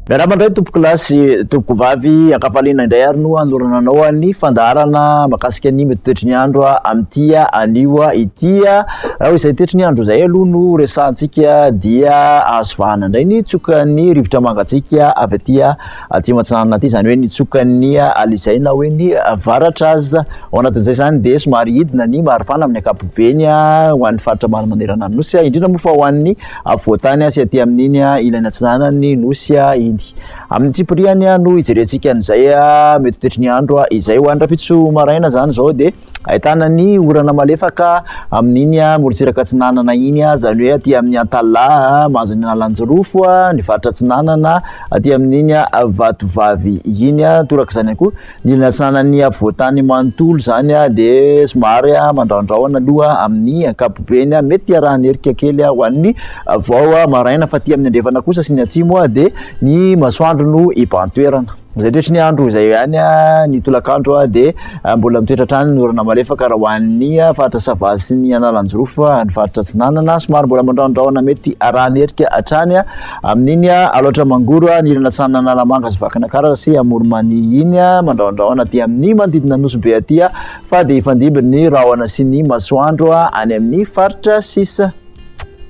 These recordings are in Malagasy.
Miarahaba indray tompoko lahy sy tompoko vavy ankafaliana indray ary no hanorana anao ny fandaharana makasika ny mety toetry ny andro amin'ity anio ity raha izay toetry ny andro izay aloha no resahantsika dia azo vahana indray ny tsoka ny rivotra mangatsika avy aty Atsimo Atsinanana aty, izany hoe nitsoka ny Alizay na hoe ny Avaratra aza. Ao anatin'izay izany dia somary hidina ny maripana amin'ny ankapobeny ho an'ny faritra ambany manerana ny Nosy, indrindra moa fa ho an'ny afovoantany sy aty amin'iny ilany atsinanan'ny Nosy iny. Amin'ny antsipirihany no hijerentsika an'izay mety ho toetry ny andro izay. Ho an'ny rahampitso maraina izany izao dia Ahitana ny orana malefaka amin'iny morontsiraka atsinanana iny, izany hoe aty amin'ny Antalaha, mahazo ny an'Alanjirofo, ny faritra atsinanana, aty amin'iny Vatovavy iny. Torak'izany ihany koa, ny ilany atsinanan'ny afovoantany manontolo izany dia somary mandrahondrahona aloha amin'ny ankapobeny. Mety hiarahan'ny erika kely ho an'ny vao maraina, fa aty amin'ny andrefana kosa sy ny atsimo dia ny masoandro no hibahan-toerana. Amin'izay toetry ny andro izay ihany, ny tolakandro dia mbola mitoetra hatrany ny orana malefaka raha ho an'ny faritra Sava sy ny Analanjirofo, ny faritra Atsinanana somary mbola mandrahondrahona mety harahan'ny erika hatrany amin'iny Alaotra Mangoro, ny ilany atsinanin'ny Analamanga sy Vakinankaratra sy Amoronmania iny, mandrahondrahona aty amin'ny manodidina Nosy Be aty fa dia hifandimby ny rahona sy ny masoandro any amin'ny faritra sisa.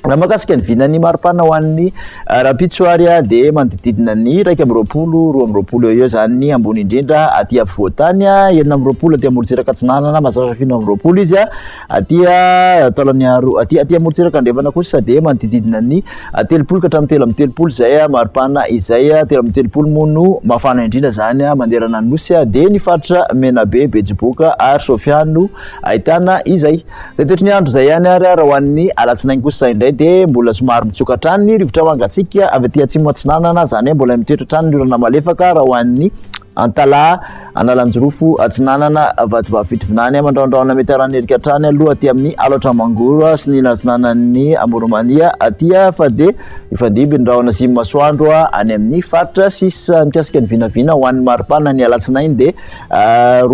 Raha makasika ny vinan'ny maripana ho an'ny eh, rahampitso ary ah, dia manodididina ny iraika amby roapolo, roa amby roapolo eo eo izany ny ambony indrindra aty afovoantany, ah, enina amby roapolo aty amorontsiraka atsinanana, mazatra fino amby roapolo izy, ah, aty ah, taolany aro- aty aty amorontsiraka andrefana kosa dia manodididina ny ah, telopolo ka hatramin'ny telo amby telopolo izay ah, maripana izay, ah, telo amby telopolo moa no mafana indrindra izany ah, manerana ny nosy, ah, dia ny faritra Menabe, Betsiboka ary Sofia no ahitana izay. Izay toetry ny andro izay ihany ary raha ho an'ny alatsinainy kosa indray dia mbola somary mitsoka hatrany ny rivotra mangatsiaka avy aty atsimo atsinanana, izany hoe mbola mitoetra hatrany ny orana malefaka raha ho an'ny Antalaha, Analanjirofo atsinanana, Vatovavy Fitovinany, Mandrahondrahona mety haran'ny erika hatrany aloha aty amin'ny Alaotra Mangoro sy ny atsinanan'ny Amoron'Mania aty fa dia mifandimby ny rahona sy ny masoandro any amin'ny faritra sisa mikasika ny vinavina ho an'ny maripana ny alatsinainy dia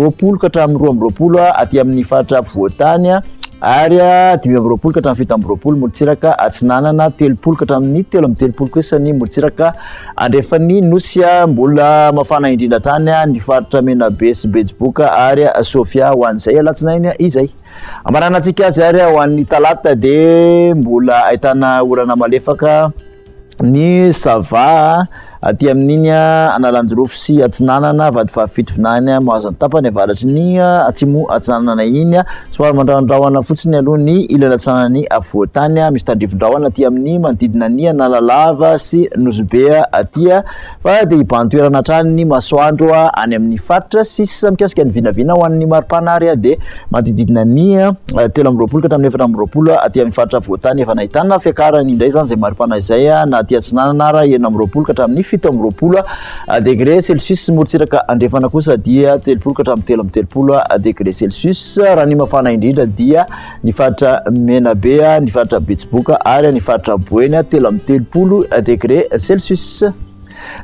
roapolo ka hatramin'ny roa amby roapolo aty amin'ny faritra afovoan-tany ary dimy amby roapolo ka hatramin'ny fito amby roapolo morontsiraka atsinanana telopolo ka hatramin'ny telo amby telopolo kosa ny morontsiraka andrefan'ny nosy mbola mafana indrindra hatrany ny faritra menabe sy betsiboka ary sofia ho an'izay alatsinainy izay amaranantsika azy ary ho an'ny talata dia mbola ahitana orana malefaka ny Sava aty amin'iny Analanjirofo sy Atsinanana, vady fahafito vinany Mahazo ny tapany avaratry ny Atsimo Atsinanana iny, somary mandrahondrahona fotsiny aloha ny ilany atsinanan'ny Afovoantany, misy tandrifin-drahona aty amin'ny manodidina ny Analalava sy Nosy Be aty. Fa dia hibahan-toerana hatrany ny masoandro any amin'ny faritra sisa mikasika ny vinavina ho an'ny mari-panary dia manodididina ny telo amby roapolo ka hatramin'ny efatra amby roapolo aty amin'ny faritra afovoan-tany efa nahitana fiakarany indray izany izay mari-panahy izay na aty atsinanana ara enina amby roapolo ka hatramin'ny fito amby roapolo degre celsius morontsiraka andrefana kosa dia telopolo ka hatramin'ny telo amby telopolo degre celsius raha ny mafana indrindra dia ny faritra Menabe, ny faritra Betsiboka ary ny faritra Boeny telo amby telopolo degré celsius.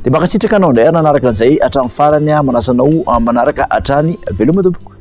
Dia mankasitraka anao indray ary nanaraka an'izay hatramin'ny farany aho manasa anao manaraka hatrany veloma tompoko.